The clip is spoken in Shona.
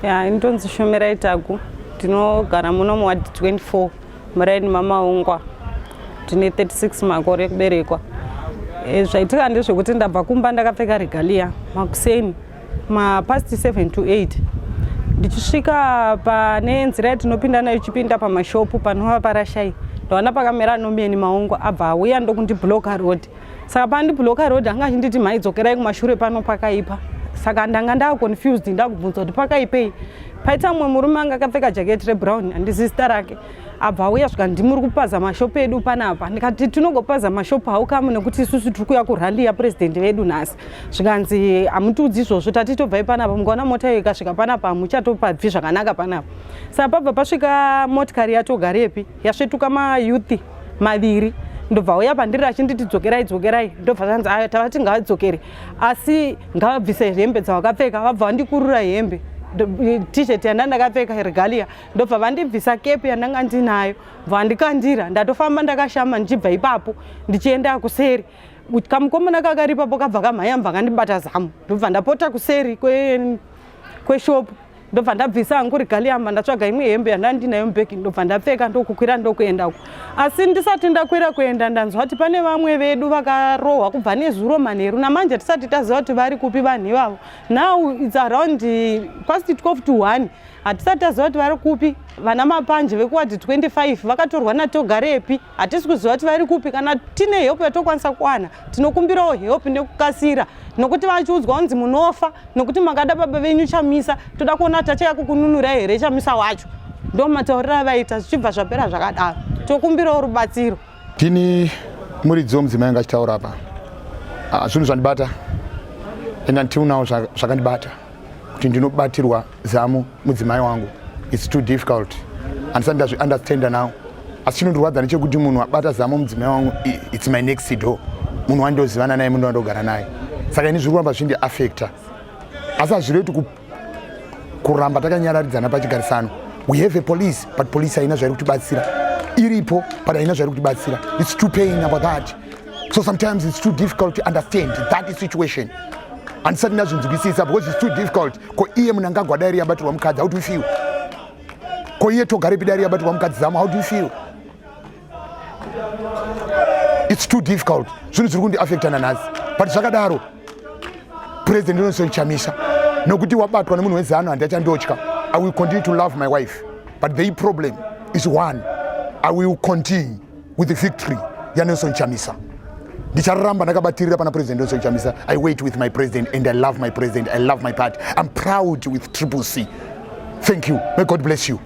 ya ini ndonzi shomerai tagu tinogara muno muwadi 24 muraini mamaungwa tine 36 makore ekuberekwa e, zvaitika ndezvekuti ndabva kumba ndakapfeka regalia makuseni mapast 7 to 8 ndichisvika pane nzira yatinopinda nayo ichipinda pamashopu panova parashai ndoona pakamera anomeni maungo abva auya ndokundibloka road saka pandibloka road anga achinditi mhai dzokerai kumashure pano pakaipa saka ndanga ndaaconfused ndakubvunza kuti pakaipei paita mumwe murume anga akapfeka jaketi rebrown andisista rake abva auya svika ndimuri kupaza mashopu edu panapa ndikati tinongopaza mashopu haukamu nekuti isusu tiri kuya kurhandi yapresident vedu nhasi zvikanzi hamutiudzi izvozvo tati tobvai panapa mukaona mota iyo ikasvika panapa hamuchatopabvi zvakanaka panapa saka pabva pasvika motikari yatogarepi yasvetuka mayouth maviri ndobva uya pandiri achinditi dzokerai dzokerai ndobva zvanzi ayo tava tingavadzokere asi ngavabvise hembe dzavakapfeka vabva vandikurura hembe t-shirt yanda ndakapfeka regalia ndobva vandibvisa kepi yandanga ndinayo bva vandikandira ndatofamba ndakashama ndichibva ipapo ndichienda kuseri kamukomana kakaripapo kabva kamhaya bva kandibata zamu ndobva ndapota kuseri kwe kweshop ndobva ndabvisa hangu rigaliyamba ndatsvaga imwe hembe yanda ndinayo mubhegi ndobva ndapfeka ndokukwira ndokuenda uko asi ndisati ndakwira kuenda ndanzwa kuti pane vamwe vedu vakarohwa kubva nezuro manheru namanje tisati taziva kuti vari kupi vanhu ivavo now its around past 12 to 1 hatisati taziva kuti vari kupi vana mapanje vekuwadi 25 vakatorwa natogarepi hatisi kuziva kuti vari kupi kana tine help yatokwanisa kuwana tinokumbirawo help nekukasira nokuti vachiudzwa kunzi munofa nokuti makada baba venyu chamisa toda kuona kuti achaya kukununura here chamisa wacho ndo matauriro avaita zvichibva zvapera zvakadaro tokumbirawo rubatsiro ndini muridzi womudzimai anga achitaura apa ah, zvinhu zvandibata and until now zvakandibata kuti ndinobatirwa Zamu mudzimai wangu it's too difficult andisati ndazviunderstanda now asi chinondirwadza nechekuti munhu abata zamu mudzimai wangu it's my next door munhu wandozivana naye munhu wandogara naye saka ini zviri kuramba zvindi affecta asi hazvirevi kuti kuramba takanyararidzana pachigarisano we have a police but police haina zvairi kutibatsira iripo but haina zvairi kutibatsira its too pain about that so sometimes it's too difficult to understand that situation handisati ndazvinzwisisa because it's too difficult ko iye munhu anga agwa dairy yabatirwa mukadzi how do you feel ko iye togarepi dairy yabatirwa mukadzi zamo how do you feel it's too difficult zvinhu zviri kundiaffecta nanhasi but zvakadaro president nelson chamisa nokuti wabatwa nemunhu wezano handiachandotya i will continue to love my wife but the problem is one i will continue with the victory yanelson chamisa ndicharamba ndakabatirira pana president nelson chamisa i wait with my president and i love my president i love my party i'm proud with triple c thank you may god bless you